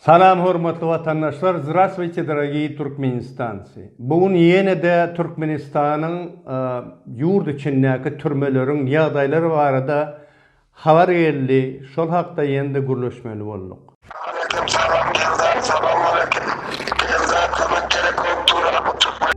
Salam hormatly watandaşlar Zrasvuyte dorogiý Turkmenistanci bu gün ýenede Türkmenistanyň ýurt içindäki türmeleriň ýagdaýlary barada habar geldi şol hakda ýenede gürleşmeli bolduk. Aleyküm salam Eldar Salam aleyküm Eldar kömek gerek bolup dur a bu türkmen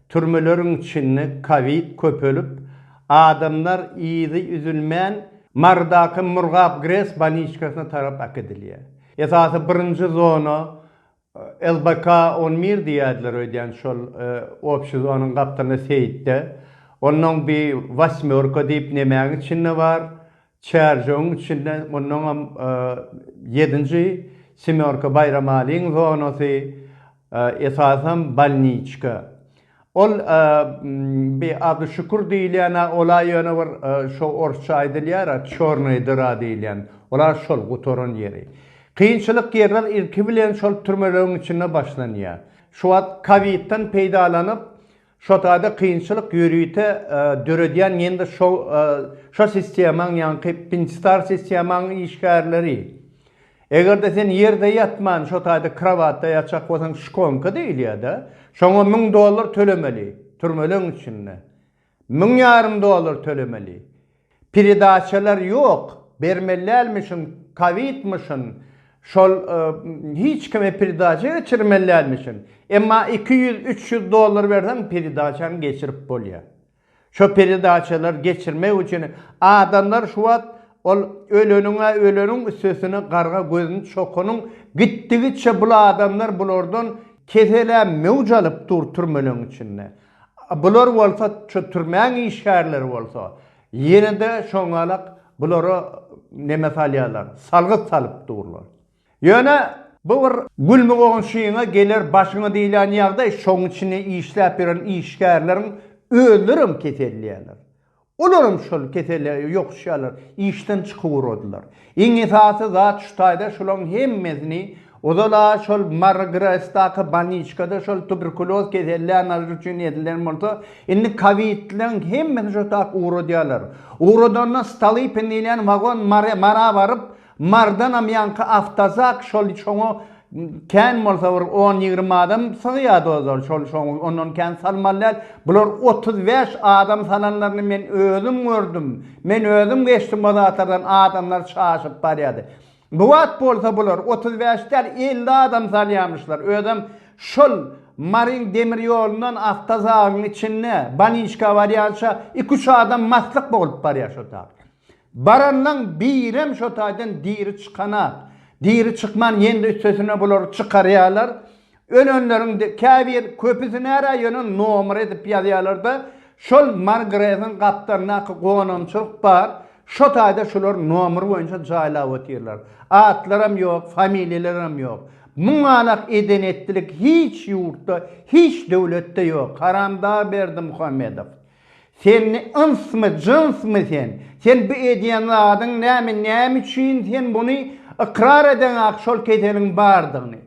Türmeleriň içinde kowid köpelip, adamlar yzy üzülmän Marydaky Murgap GRES boliçkasyna tarap äkidilýär. Esasy birinji zona LBK on bir diýýärdiler öýdýän şol obşi zonyň gapdalynda seýitde. Onnoň bir wasmýorka diýip nemäň içinde bar. Çärjewiň içinde mundanam ýedinji Semýorka Baýramalyň zonasy, esasam bolniçka. Ol bi ady Şükür diýilýän-ä ola ýöne bir şo orsça aýdylýar-a Çornaýa dyra diýilýän. Ola şol gutaran ýeri. Kynçylyk ýerler ilki bilen şol türmelegiň içinde başlanýar. Şu wagt kowidden peýdalanyp Şotada kynçylyk ýörite döredýän ýene-de şo şo sistemaň ýaňky Pinstar sistemaň işgärleri. Eger-de sen ýerde ýatman şotada krowatda ýatjak bolsaň şkonka diýilýär-de. Şoňa müň dollar tölemeli. Türmeleň içinde. Müň ýarym dollar tölemeli. Peredaçalar ýok bermelälmişin kowidmişin şol hiç kime peredaça geçirmelälmişin emma iki ýüz üç ýüz dollar berseň peredaçaňy geçirip bolýa şo peredaçalar geçirmek üçin adamlar şu wagt ol öleniňä öleniň üstesine garga gözüni çokanyň gitdigiçe bul adamlar bulardan keselä möwç alyp dur türmeleriň içinde. Bular bolsa şu türmäň işgärleri bolsa ýene-de şoňalak bulara neme salýarlar, salgyt salyp durlar. Ýöne bu bir gülmi goňşyňa geler başyňa diýlen ýagdaý, şoň içinde işläp ýören işgärleriň özlerem keselleýärler. Olaram şol kesele ýokuşýarlar, işden çykyp uradylar. Iň esasy zat şu taýda şulaň hemmesini ozal-a şol Marygresdaky bolniçkada şol tuberkuloz kesellän nalar üçin edilen bolsa, indi kowidleň hemmesini şo tak ugradýarlar. Ugradanda Stolypin diýilýän wagon Mara baryp, Mardanam ýaňky awtozak şol şoňa kän bolsa bir on ýigrimi adam sygýar dozor şol şoň ondan kän salmaly däl bular otuz bäş adam salanlaryny men özüm gördüm men özüm geçdim o zatlardan adamlar çaşyp barýardy bu wagt bolsa bular otuz bäş däl elli adam salýamyşlar özem şol maryň demir ýolundan awtozagyň içinde baniçka barýança iki üç adam maslyk bolup barýar şo tabşyr. Baranlaň birem şo taýdan diri çykanok. Diri çykman ýene-de üstesine bulary çykarýarlar. Ölenleriň käbir, köpüsi närä ýöne nomer edip ýazýarlar-da, şol Margrediň gapdalyndaky gonamçylyk bar, şo taýda şular nomer boýunça jaýlap otyrlar. Atlaram ýok, familiýalaram ýok. Muňalak eden-etdilik hiç ýurtda, hiç döwletde ýok. Haramdag Berdimuhamedow. Sen ynsmy, jynsmy sen? Sen bu edýän zadyň näme, näme üçin sen muny ykrar edeňak şol keseliň bardygyny?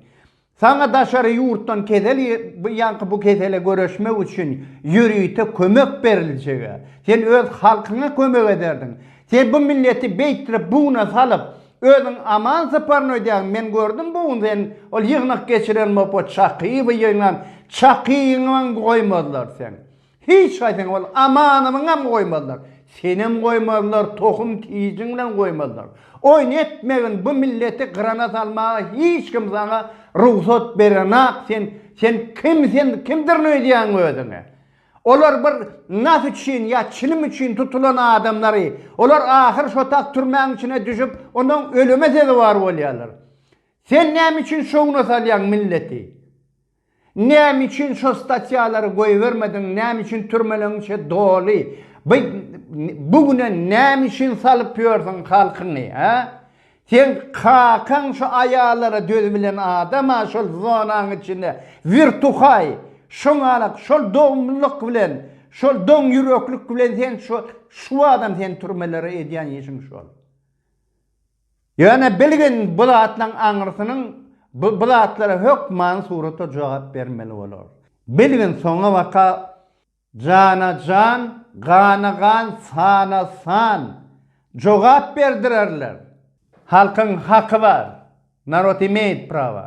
Saňa daşary ýurtdan kesel ýaňky bu kesele göreşmek üçin ýörite kömek beriljega. Sen öz halkyňa kömek ederdiň. Sen bu milleti beýtdirip bugna salyp, özüň aman syparyny öýdýäň. Men gördüm bu gün sen ol ýygnak geçiren bop o çakyby ýygnan çakyňam goýmazlar seň. Hiç haýsyňy ol Amanowyňam goýmazlar. Senem goýmazlar, tohum tijiňinem goýmazlar. Oýun etmegin, bu milleti gyrana salmaga hiç kim saňa rugsat berenak, sen, sen kim, sen kimdirin öýdýäň özüňi? Olar bir nas üçin ýa çilim üçin tutulan adamlary, olar ahyr şotak türmäň içine düşüp, onsoň ölüme sezewar bolýarlar. Sen näme üçin şowuna salýaň milleti? Näme üçin şo statýalary goýbermediň näme üçin türmeleň içi doly by bu güne näme üçin salyp ýörsiň halkyňy hä seň kakaň şo aýallara dözübilen adam a şol zonaň içinde wirtuhaý şoňalak şol dogumlylyk bilen şol doň ýüreklik bilen sen şo şuadam sen türmelere edýän işiň şol. Ýöne bilgin bu zatlaryň aňyrsynyň bu bu zatlara hökman surata jogap bermeli bolar. Bilgin soňabaka jana jan, gana gan, sana san jogap berdirerler. Halkyň haky bar. Narod imeýt prawa.